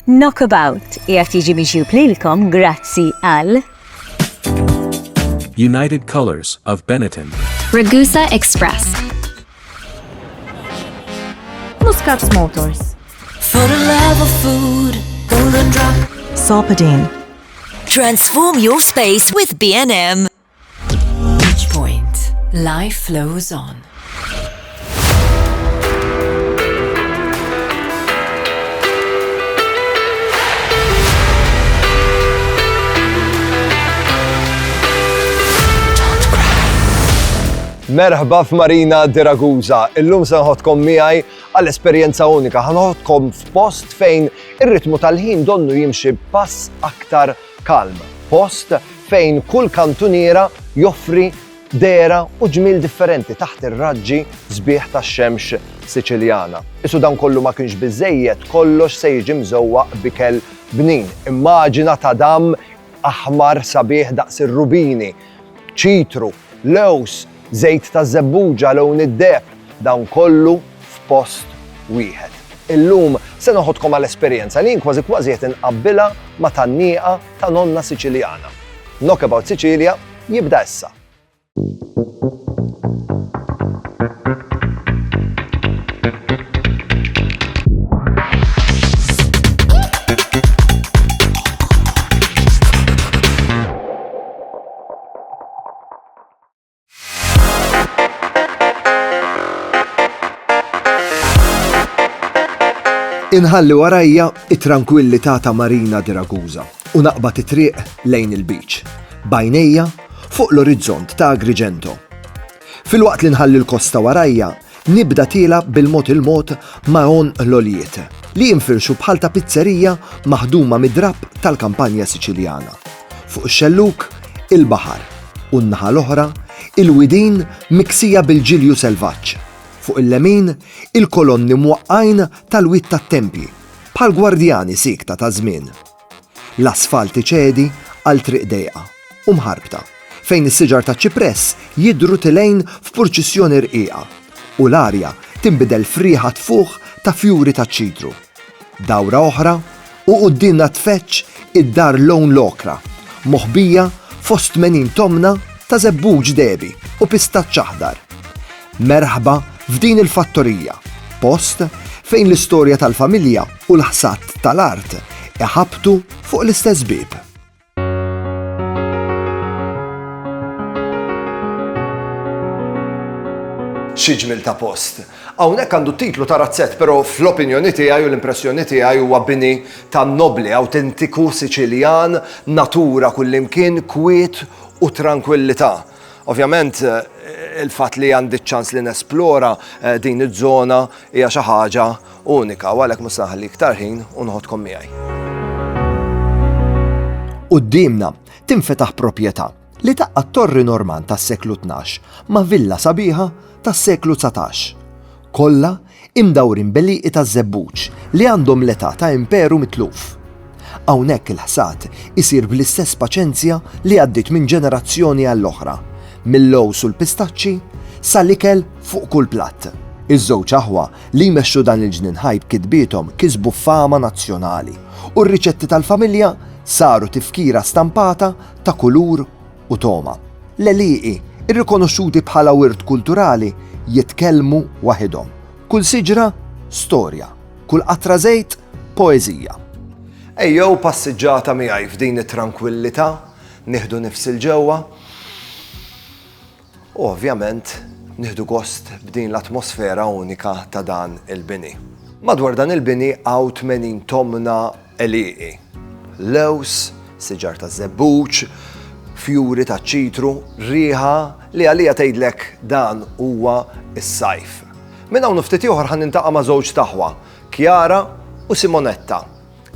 Knockabout qiegħed jiġi miġjub lilkom grazzi għal United Colors of Benetton. Ragusa Express. Muscat Motors. For the love of food, golden drop. Sopadine. Transform your space with B&M. Each point, life flows on. Merħba f'Marina de Ragusa. Illum se nħodkom miegħi għal esperjenza unika. Ħanħodkom f'post fejn ir-ritmu tal-ħin donnu jimxi pass aktar Calm, post fejn kull kantuniera joffri dehra u ġmiel differenti taħt ir-raġġi sbieħ tax-xemx Siċiljana. Isu dan kollu ma kienx biżżejjed, kollox se jiġi mżewwaq b'ikel bnin. Immaġina tadam aħmar sabiħ daqs ir-rubini, ċitru, lewż, żejt ta' żebbuġa, lewn id-deheb, dan kollu f'post wieħed. Illum se noħodkom għal esperjenza li jien kważi kważi qed inqabbilha ma' tan-nieqa ta' nonna Siċiljana. Knock About Sicilia jibda issa. Inħalli warajja it-trankwillità ta' Marina di Ragusa u naqbad it-triq lejn il-beach. Bajnejja fuq l-orizzont ta' Agrigento. Filwaqt li nħalli l-kosta warajja, nibda tiela' bil-mod il-mod ma' għonq l-għoljiet, li jinfirxu bħal ta' pizzerija maħduma mid-drapp tal-kampanja Siċiljana. Fuq ix-xellug, il-baħar, u n-naħa l-oħra, il-widien miksija bil-ġilju selvaġġ. Fuq il-lemin, il-kolonni mwaqqgħin tal-wied tat-tempji, bħal gwardjani siekta taż-żmien. L-asfalt iċedi għal triq dejqa u mħarbta, fejn is-siġar taċ-ċipress jidhru tilgħin f'purċissjoni rqiqa, u l-arja tinbidel f'riħa tfuħ ta' fjuri taċ-ċitru. Dawra oħra, u quddiemna tfeġġ id-dar Lone L-Okra, moħbija fost tmenin tomna ta' żebbuġ dehbi u pistaċċ aħdar. Merħba f'din il-fattorija, post fejn l-istorja tal-familja u l-ħsad tal-art iħabbtu fuq l-istess bieb. Xi ġmiel ta' post! Hawnhekk għandu t-titlu ta' razzett, però fl-opinjoni tiegħi u l-impressjoni tiegħi huwa bini ta' nobbli, awtentiku Siċiljan, natura kullimkien, kwiet u trankwillità. Ovvjament, il-fatt li għandi ċ-ċans li nesplora eh, din iż-żona hija xi ħaġa unika u għalhekk mhux naħli iktar ħin u nħodkom miegħi. Qudiemna tinfetaħ proprjetà li taqqa' torri Norman tas-seklu 12 ma' villa sabiħa tas-seklu 19. Kollha Imdawrin b'għelieqi taż-żebbuġ li għandhom l-età ta' imperu mitluf. Hawnhekk il-ħsad isir bl-istess paċenzja li għaddiet minn ġenerazzjoni għall-oħra, mil-lowż u l-pistaċċi sa l-ikel fuq kull platt. Iż-żewġ aħwa li jmexxu dan il-ġnien ħaj b'kitbiethom kisbu fama nazzjonali u r-riċetti tal-familja saru tifkira stampata ta' kulur u togħma. L-għelieqi, irrikonoxxuti bħala wirt kulturali, jitkellmu waħidhom. Kull siġra, storja. Kull qatra żejt, poeżija. Ejjew passiġġata miegħi f'din it-trankwillità, nieħdu nifs 'il ġewwa, u ovvjament nieħdu gost b'din l-atmosfera unika ta' dan il-bini. Madwar dan il-bini hawn 80 tomna Għelieqi, lewż, siġar taż-żebbuġ, fjuri taċ-ċitru, riħa li għaliha tgħidlek dan huwa s-sajf. Minn hawn u ftit ieħor ħa nintaqa' ma' żewġ t'aħwa, Chiara u Simonetta,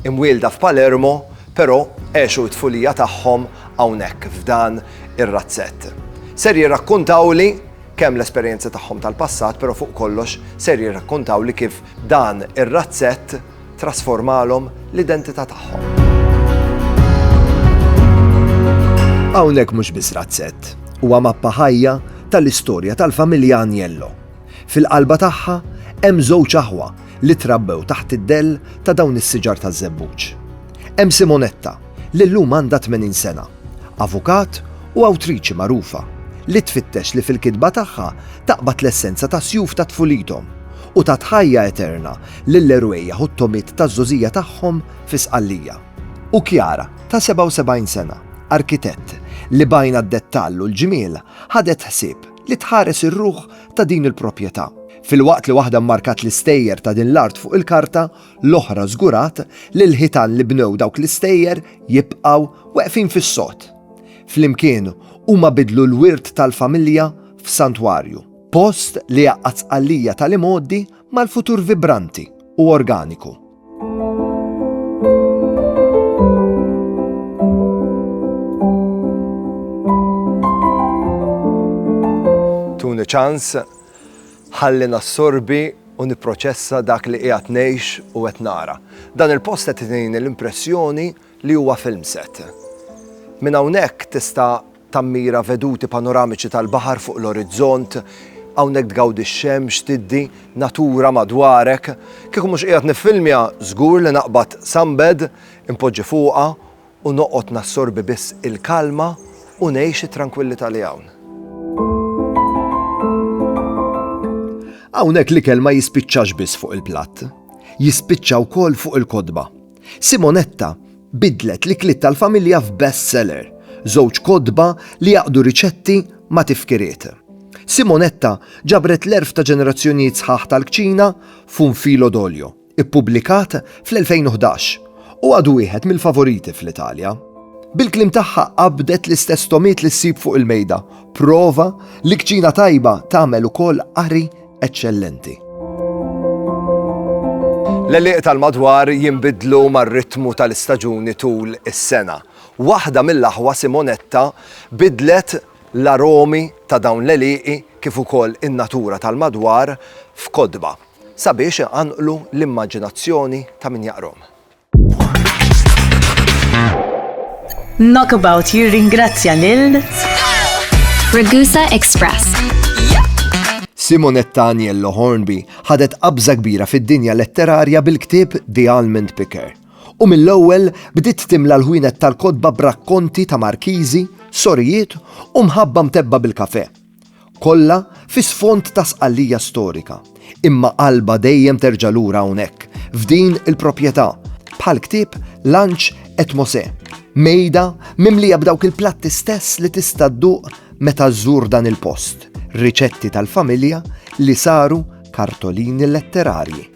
imwielda f'Palermo però għexu t-tfulija tagħhom hawnhekk f'dan ir-razzett. Ser jirrakkuntawli kemm l-esperjenzi tagħhom tal-passat però fuq kollox ser jirrakkuntawli kif dan ir-razzett Trasformalhom l-identità tagħhom. Hawnhekk mhux biss razzett, huwa mappa ħajja tal-istorja tal-familja Agnello. Fil-qalba tagħha hemm żewġ aħwa li trabbew taħt id-dell ta' dawn is-siġar taż-żebbuġ. Hemm Simonetta, li llum għandha 80 sena, avukat u awtriċi magħrufa, li tfittex li fil-kitba tagħha taqbad l-essenza tas-sjuf ta' tfulithom u tat ħajja eterna lill-erwejjaħ u t-togħmiet taż-żgħożija tagħhom fi Sqallija. U Chiara, ta' 77 sena, arkitett li b'għajnha d-dettall u l-ġmiel ħadet ħsieb li tħares ir-ruħ ta' din il-propjetà. Filwaqt li waħda mmarkat l-istejjer ta' din l-art fuq il-karta, l-oħra żgurat li l-ħitan li bnew dawk l-istejjer jibqgħu weqfin fis-sod. Flimkien huma biddlu l-wirt tal-familja f'santwarju, post li għaqqad Sqallija tal-imgħoddi mal-futur vibranti u organiku. Tuni ċans ħalli nassorbi u nipproċessa dak li qiegħed ngħix u qed nara. Dan il-post qed itini l-impressjoni li huwa film set. Minn hawnhekk tista' Tammira veduti panoramiċi tal-baħar fuq l-orizzont, hawnhekk tgawdi x-xemx, tiddi, natura madwarek. Kieku mhux qiegħed niffilmja, żgur li naqbad sunbed, inpoġġi fuqha u noqgħod nassorbi biss il-kalma u ngħix it-trankwillità li hawn. Hawnhekk l-ikel ma jispiċċax biss fuq il-platt, jispiċċa wkoll fuq il-kotba. Simonetta biddlet l-ikliet tal-familja f'best seller, żewġ kotba li jgħaqqdu riċetti ma' tifkiriet. Simonetta ġabret l-għerf ta' ġenerazzjonijiet sħaħ tal-kċina f'Un filo d'olio, ippubblikat fl-2011, u għadu wieħed mill-favoriti fl-Italja. Bil-kliem tagħha qabdet l-istess togħmiet li ssib fuq il-mejda, prova li kċina tajba tagħmel ukoll qari eċċellenti. L-għelieq tal-madwar jinbidlu mar-ritmu tal-istaġuni tul is-sena. Waħda mill-aħwa Simonetta bidlet l-aromi ta' dawn l-għelieqi kif ukoll in-natura tal-madwar f'kotba sabiex iqanqlu l-immaġinazzjoni ta' min jaqrahom. Knockabout jirringrazzja lil Ragusa Express. Simonetta Aniello Hornby ħadet qabża kbira fid-dinja letterarja bil-ktieb The Almond Picker. U mill-ewwel bdiet timla l-ħwienet tal-kodba brakkonti ta' markiżi, sorijiet u mħabba mtebba bil-kafe. Kollha fi sfond ta' Sqallija storika, imma qalbha dejjem terġa' lura hawnhekk, f'din il-proprjetà, bħal ktieb Lanċ et Mosè, mejda mimlija b'dawk il-platti stess li tista' dduq meta żżur dan il-post, riċetti tal-familja li saru kartolini letterarji.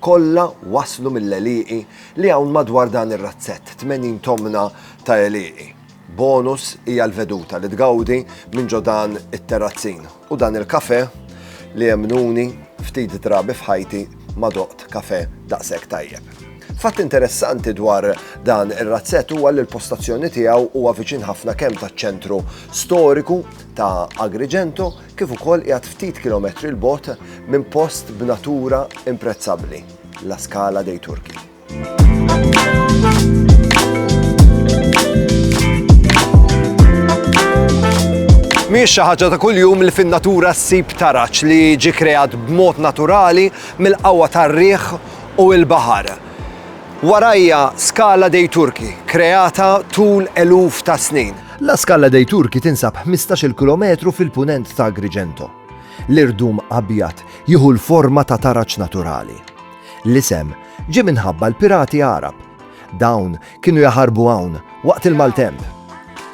Kollha waslu mill-għelieqi li hawn madwar dan ir-razzett, 80 tomna ta' għelieqi. Bonus hija l-veduta li tgawdi minn ġo dan it-terrazzin u dan il-kafè li emmnuni ftit drabi f'ħajti ma doqt kafè daqshekk tajjeb. Fatt interessanti dwar dan ir-razzett huwa li l-postazzjoni tiegħu huwa viċin ħafna kemm taċ-ċentru storiku ta' Agrigento kif ukoll qiegħed ftit kilometri 'l bogħod minn post b'natura imprezzabbli, La Scala dei Turchi. Mhijiex xi ħaġa ta' kuljum li fin-natura ssib taraġ li ġi kreat b'mod naturali mill-qawwa tar-riħ u l-baħar. Warajja skala dei Turki, kreata tul eluf ta' snin. La Scala dei Turchi tinsab 15-il kilometru fil-Punent ta' Agrigento. L-irdum abjad jieħu l-forma ta' taraġ naturali. L-isem ġie minħabba l-pirati Għarab. Dawn kienu jaħarbu hawn waqt il-maltemp.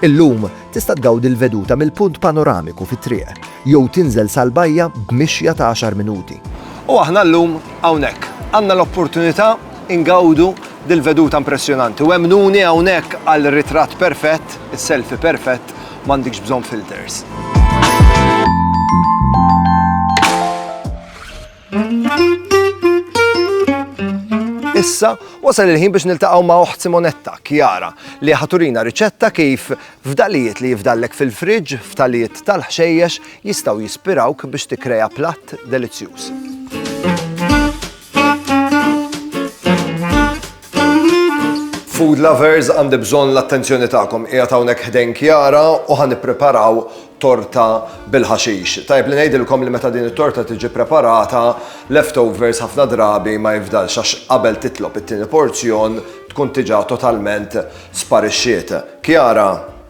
Illum tista' tgawdi l-veduta mill-punt panoramiku fit-triq jew tinżel sal-bajja b'mixja ta' għaxar minuti. U aħna llum hawnhekk għandna l-opportunità Ingawdu dil-veduta impressjonanti u emmnuni hawnhekk għal ritratt perfett, is-selfie perfett, m'għandikx bżonn filters. Issa wasal il-ħin biex niltaqgħu ma' oħt Simonetta, Kjara, li ħaturina riċetta kif f'dalijiet li jifdallek fil-friġġ, f'talijiet tal-ħxejjex jistgħu jispirawk biex tikkreja platt delizzjuż. Food lovers għandi bżonn l-attenzjoni tagħkom. Qiegħed hawnhekk ħdejn Kjara u ħa nippreparaw torta bil-ħaxix. Tajb li ngħidilkom li meta din it-torta tiġi preparata, leftovers ħafna drabi ma jifdalx għax qabel titlob it-tieni porzjon tkun diġà totalment sparixxiet. Kjara,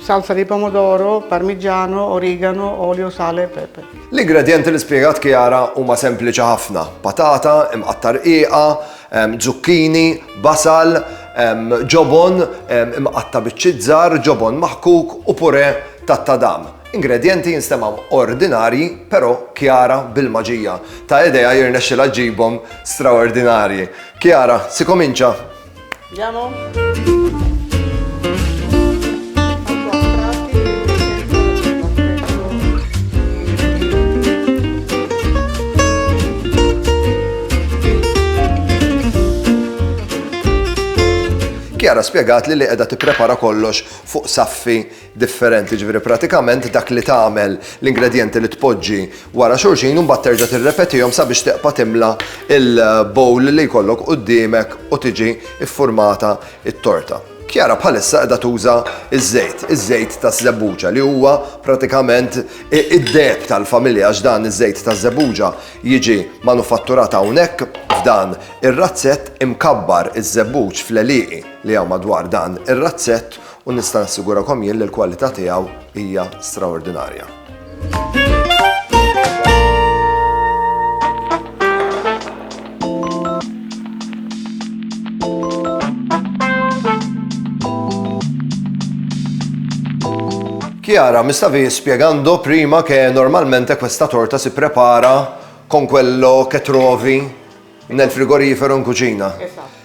Salsa di pomodoro, parmigiano, origano, olio, sale e pepe. L-ingredjenti li spjegat Chiara huma sempliċi ħafna. Patata, imqatta rqiqa, zucchini, basal, ġobon, imqatta biċċiet żgħar, ġobon maħkuk u pure tat-tadam. Ingredjenti jinstemgħu ordinarji però Chiara bil-maġija ta' idejha jirnexxilha ġġibhom straordinarji. Chiara, si comincia? Andiamo. Kjara spiegat li li qiegħda tipprepara kollox fuq saffi differenti, jiġifieri pratikament dak li tagħmel, l-ingredjenti li tpoġġi wara xulxin u mbagħad terġa' tirrepetihom sabiex teqpa' timla l-bowl li jkollok quddiemek u tiġi ffurmata t-torta. Chiara bħalissa qiegħda tuża ż-żejt, iż-żejt taż-żebbuġa li huwa pratikament id-deheb tal-familja għax dan iż-żejt taż-żebbuġa jiġi manufatturat hawnhekk f'dan ir-razzett imkabbar iż-żebbuġ fl-għelieqi li hawn madwar dan ir-razzett U nista' nassigurakom jien li l-kwalità tiegħu hija straordinarja. Chiara, mi stavi spiegando prima che normalmente questa torta si prepara con quello che trovi Nel frigorifero in kuċina. Esatt.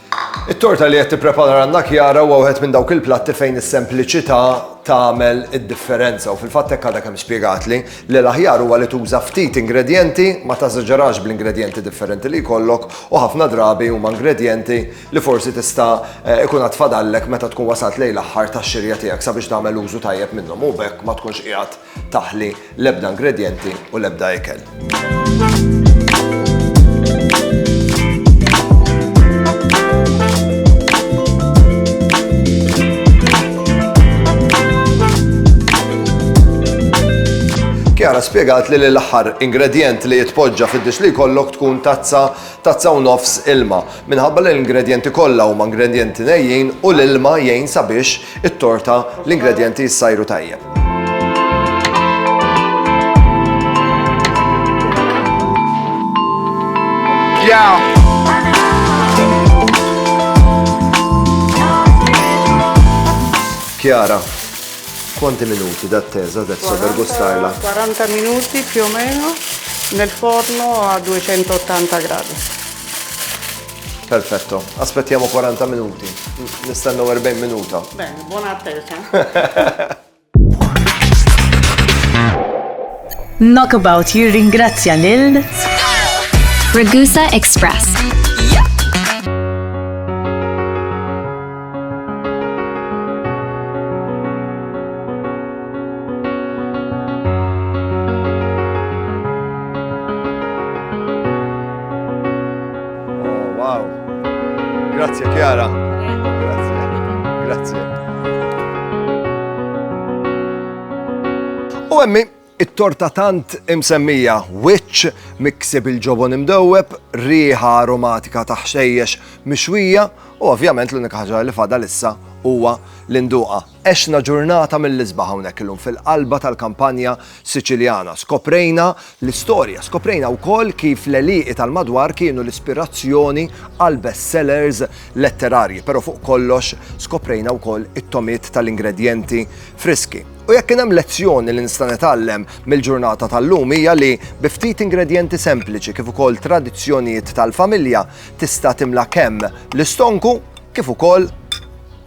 It-torta li qed tipprepara għandna Kjara huwa wieħed minn dawk il-platti fejn is-sempliċità tagħmel id-differenza u fil-fatt hekk għadha kemm spjegatli li l-aħjar huwa li tuża ftit ingredjenti ma tażaġerax bl-ingredjenti differenti li jkollok u ħafna drabi huma ingredjenti li forsi tista' eh, ikun għad fadallek meta tkun wasalt lejn l-aħħar tax-xirja tiegħek sabiex tagħmel użu tajjeb minnhom u b'hekk ma tkunx qiegħed taħli l-ebda ingredjenti u l-ebda ikel. Kjara spiegat li l-aħħar ingredient li jitpoġġa fid-dix li jkollok tkun tazza tazza u nofs ilma. Minħabba li l-ingredienti kollha huma ingredienti nejjin u l-ilma jgħin sabiex it-torta, l-ingredjenti jissajru tajjeb. Yeah. Chiara, quanti minuti d'attesa adesso 40, per gustarla? 40 minuti più o meno nel forno a 280 gradi. Perfetto. Aspettiamo 40 minuti. Nistennew 40 minuta. Bene, buona attesa. Knockabout jirringrazzja lil Ragusa Express. Oh, wow. Grazie Chiara. Grazie. Grazie. U emmi, it-torta tant imsemmija wiċċ miksib il-ġobon imdewweb, riħa aromatika ta' ħxejjex mixwija u ovvjament l-unika ħaġa li fadal issa huwa l-induqa. Għexna ġurnata mill-isbaħ hawnhekk illum fil-qalba tal-kampanja Siċiljana. Skoprejna l-istorja, skoprejna wkoll kif l-għelieqi tal-madwar kienu l-ispirazzjoni għal best sellers letterarji, però fuq kollox skoprejna wkoll it-tomiet tal-ingredjenti friski. U jekk kien hemm lezzjoni li nista' nitgħallem mill-ġurnata tal-lum hija li bi ftit ingredjenti sempliċi kif ukoll tradizzjonijiet tal-familja tista' timla kemm l-istonku kif ukoll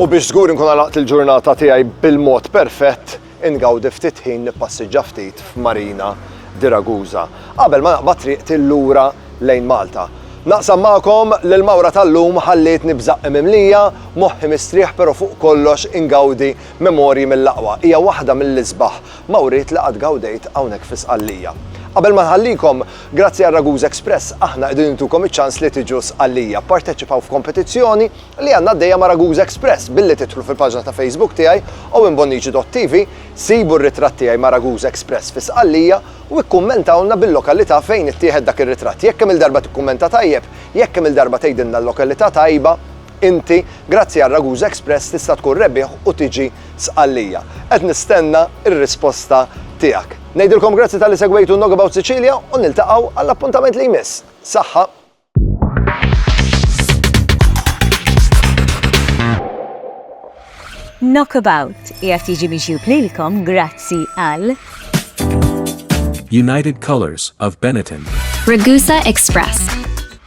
U biex żgur nkun għalaqt il-ġurnata tiegħi bil-mod perfett, ingawdi ftit ħin nippassiġġa ftit f'Marina di Ragusa. Qabel ma naqbad triq tillura lejn Malta. Naqsam magħkom li l-mawra tal-lum ħallietni b'żaqqi mimlija, moħħi mistrieħ però fuq kollox ingawdi Memorji mill-aqwa hija waħda mill-isbaħ mawriet li qatt gawdejt hawnhekk fi Sqallija. Qabel ma nħallikom, grazzi għal Raguse Express aħna qegħdin intukom iċ-ċans li tiġu Sqallija. Pparteċipaw f'kompetizzjoni li għandna għaddejja ma' Raguse Express billi tidħlu fil-paġna ta' Facebook tiegħi, owenbonnici.tv, sibu r-ritratt tiegħi ma' Raguse Express fi Sqallija u ikkummentawlna bil-lokalità fejn ittieħed dak ir-ritratt. Jekk kemm-il darba tikkummenta tajjeb, jekk kemm-il darba tgħidilna l-lokalità tajba, Inti, grazzi għal Ragusa Express tista' tkun rebbieħ u tiġi Sqallija. Qed nistenna r-risposta tiegħek. Ngħidilkom grazzi talli segwejtu Knockabout Sicilia u niltaqgħu għall-appuntament li jmiss. Saħħa! Knockabout qiegħed jiġi miġjub lilkom grazzi għal. United Colors of Benetton. Ragusa Express.